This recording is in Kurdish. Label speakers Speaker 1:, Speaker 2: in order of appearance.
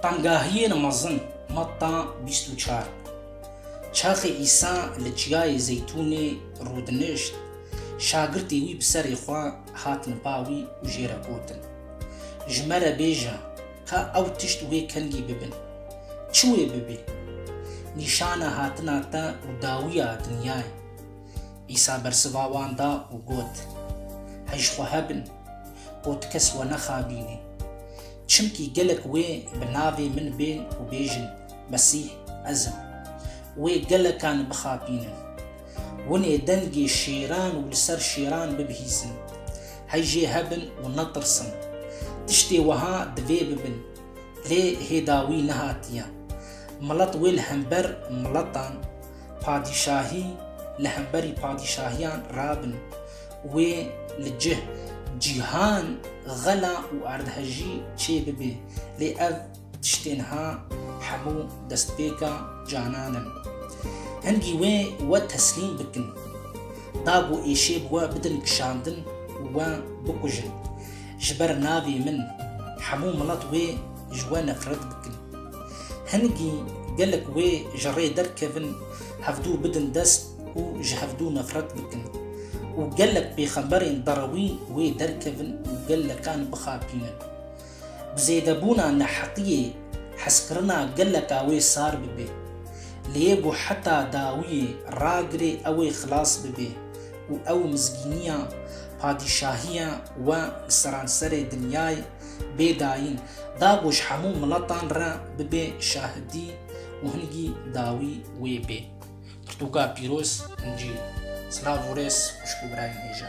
Speaker 1: Tengahiyên mezin, Matta bîst û çar Çaxê Îsa li Çiyayê Zeytûnê rûdinişt, şagirtê wî bi serê xwe hatin ba wî û jê re gotin, Ji me re bêje ka ew tişt wê kengî bibin. Çi wê bibî? Nîşana hatina te û dawiya dinyayê. Îsa bersiva wan da û got, Hey ji xwe hebin, ku tu kes we nexabînî. Çimkî gelek wê bi navê min bên û bêjin, Mesîh ez im, wê gelekan bixapînin. Winê dengê şêran û li ser şêran bibihîzin. Hey jê hebin û netirsin. Tiştê wiha divê bibin, lê hêda wî nehatiye. Milet wê li hember miletan, Padîşahî li hemberî padîşahiyan rabin. Wê li cih cîhan xela û erdhejî çê bibe. Lê ev tiştên ha hemû destpêka canan in. Hingî wê we teslîm bikin. Da ku êşê bi we bidin kişandin û we bikujin. Ji ber navê min hemû milet wê ji we nefret bikin. Hingî gelek wê ji rê derkevin hevdû bidin dest û ji hevdû nefret bikin û gelek pêxemberên derewî wê derkevin û gelekan bixapînin. Bi zêdebûna neheqiyê hezkirina geleka wê sar bibê. Lê ku heta dawiyê ragirê ew ê xilas bibê û ew mizgîniya padîşahiya we li seranserê dinyayê bê dayîn, dagoş hemû miletan re bibe şahidî û hingî dawî wê bê. Pirtûka pîroz, Încîl. Silav û rêz xwişk û birayên hêja.